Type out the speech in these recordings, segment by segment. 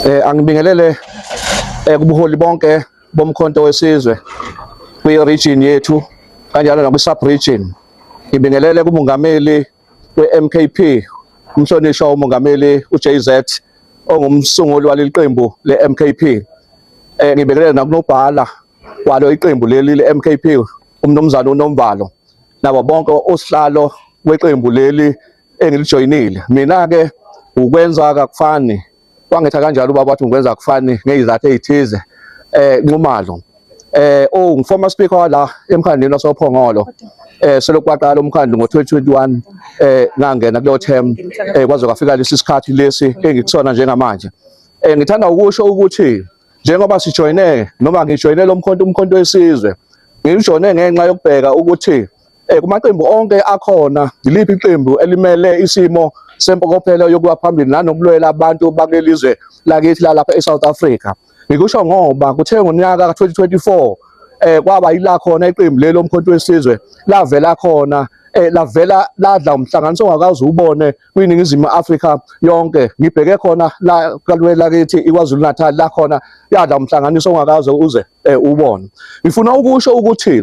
Eh angibingelele eh, kubuholi bonke bomkhonto wesizwe kwi region yethu kanjalo nakwi sub region. Ngibingelele kumongameli weMKP umhlonishwa umongameli uJZ ongumsunguli waleli qembu leMKP. Eh ngibingelele nakunobhala kwalo iqembu leli leMKP umnumzane uNomvalo nabo bonke osihlalo weqembu leli engilijoyinile mina-ke ukwenza kakufani wangetha kanjalo ubaba wathi ngikwenza kakufani ngeyizathu eyithize eh Nxumalo eh oh ngiformer speaker wala emkhandlwini wasophongolo eh selokhu kwaqala umkhandlu ngo-2021 eh ngangena kuleyo term eh kwaze kwafika lesi sikhathi lesi engikusona njengamanje eh ngithanda ukusho ukuthi njengoba sijoyine noma ngijoyine lo mkhonto umkhonto wesizwe ngijoyine ngenxa yokubheka ukuthi Eh, kumaqembu onke akhona yiliphi iqembu elimele isimo sempokophelo yokuba phambili nanokulwela abantu bakulelizwe lakithi lalapha eSouth Africa ngikusho ngoba kuthe ngonyaka ka-2024 eh kwaba yila khona iqembu lelo umkhonto wesizwe lavela khona eh lavela ladla umhlanganiso ongakaze ubone kwiningizimu Afrika yonke ngibheke khona la kalwe lakithi iKwaZulu Natal la khona yadla umhlanganiso ongakaze uze eh, ubone ngifuna ukusho ukuthi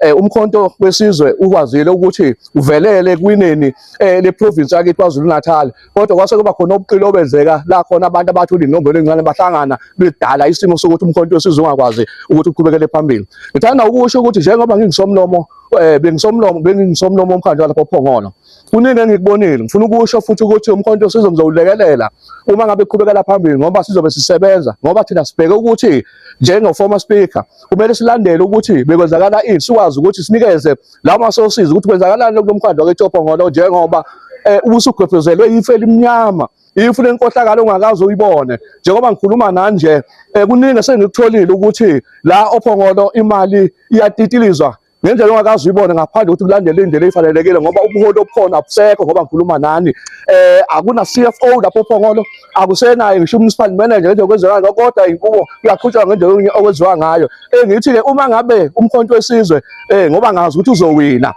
eh, umkhonto wesizwe ukwazile ukuthi uvelele kwineni eh, le province yakhe KwaZulu Natal kodwa kwase kuba khona ubuqili obenzeka la khona abantu abathi ulinombolo encane bahlangana bedala isimo sokuthi umkhonto wesizwe ungakwazi ukuthi uqhubekele phambili ngithanda ukusho ukuthi njengoba ngingisomlomo eh bengisomlomo bengisomlomo omkhandlu lapho phongolo kuningi engikubonile ngifuna ukusho futhi ukuthi umkhonto sizomzowulekelela uma ngabe qhubekela phambili ngoba sizobe sisebenza ngoba thina sibheke ukuthi njengo former speaker kumele silandele ukuthi bekwenzakala ini sikwazi ukuthi sinikeze lawo masosizi ukuthi kwenzakalani kulo mkhandlu waketshobhongolo njengoba eh, um ubusugwebhezelwe yifu elimnyama ifu lenkohlakalo ongakaze uyibone njengoba ngikhuluma nanje um kuningi esengikutholile ukuthi la ophongolo imali iyatitilizwa ngendlela ongakazi uyibone ngaphandle ukuthi kulandele indlela efanelekile ngoba ubuholi obukhona abusekho ngoba ngikhuluma nani eh akuna CFO lapho phongolo akusenayo ngisho municipal manager ngendlela okwenzeka ngayo kodwa inkubo uyaqhutshwa ngendlela okwenziwa ngayo engithi ke uma ngabe umkhonto wesizwe eh ngoba ngazi ukuthi uzowina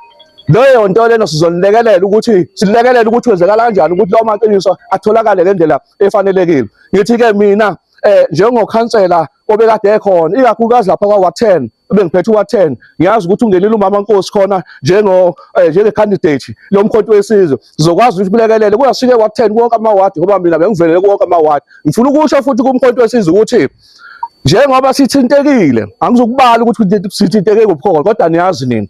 leyo nto lena sizonilekelela ukuthi silekelela ukuthi wenzekala kanjani ukuthi lawo maqiniso atholakale ngendlela efanelekile ngithi ke mina eh njengokhansela obekade ekhona ikakhulukazi lapha kwawa 10 bengiphethe uwa 10 ngiyazi ukuthi ungenile umama Nkosi khona njengo eh, njenge candidate lo mkhonto wesizwe zokwazi ukuthi kulekelele kuyasike wa 10 konke ama ward ngoba mina bengivelele konke ama ward ngifuna ukusho futhi kumkhonto wesizwe ukuthi njengoba sithintekile angizokubala ukuthi sithinteke ngobukhona kodwa niyazi nina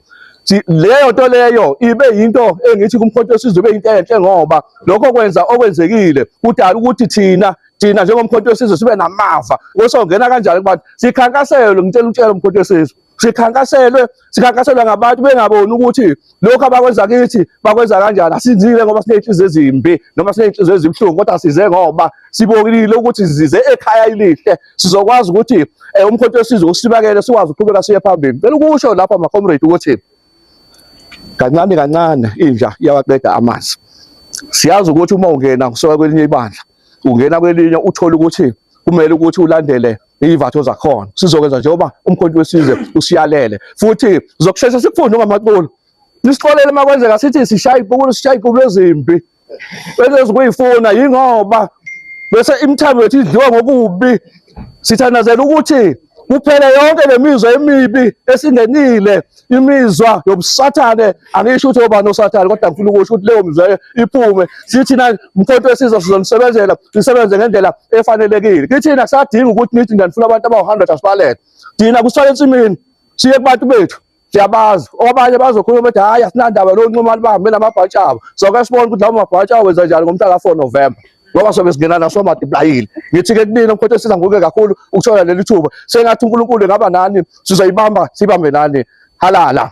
leyo nto leyo ibe yinto engithi kumkhonto wesizwe ibe yinto enhle ngoba lokho kwenza okwenzekile kudala ukuthi thina thina njengomkhonto wesizwe sibe namava kusongena kanjani kubantu sikhankaselwe ngitshela ukutshela umkhonto wesizwe sikhankaselwe sikhankaselwe ngabantu bengaboni ukuthi lokhu abakwenza kithi bakwenza kanjani asizile ngoba siney'nhliziyo ezimbi noma siney'nhliziyo ezibuhlungu kodwa size ngoba sibonile ukuthi size ekhaya elihle sizokwazi ukuthi um eh, umkhonto wesizwe usibakele sikwazi ukuqhubeka siye phambili cela ukusho lapha macomrade ukuthi kancane kancane inja iyawaqeda amanzi siyazi ukuthi uma ungena kusuka kwelinye ibandla ungena kwelinye uthole ukuthi kumele ukuthi ulandele iyivatho zakhona sizokwenza njengoba umkhonto wesizwe usiyalele futhi zokushesha sikufunde ngamaculo nisixolele uma kwenzeka sithi sishaya ipukulo sishaya ipukulo ezimbi bese zikuyifuna yingoba bese imithambo yethu idliwa ngokubi sithandazela ukuthi kuphele yonke le mizwa emibi esingenile imizwa yobusathane angisho ukuthi obani osathane kodwa ngifuna ukusho ukuthi leyo mizwa iphume sithina mkhonto wesizwe sizonisebenzela sisebenze ngendlela efanelekile kithina kusadinga ukuthi nithi ngifuna abantu abawu-hundred asibalele thina kusithwala ensimini siye kubantu bethu siyabazi obanye bazokhuluma ukuthi hhayi asinandaba lowo nxumani bahambe namabhantshi abo soke sibone ukuthi lawo mabhantshi awo wenza njani ngomhla ka-four novemba ngoba sobe singena naso madiplayile ngithi-ke kunina mkhotho esiza nguke kakhulu ukuthola leli thuba sengathi unkulunkulu engaba nani sizoyibamba sibambe nani halala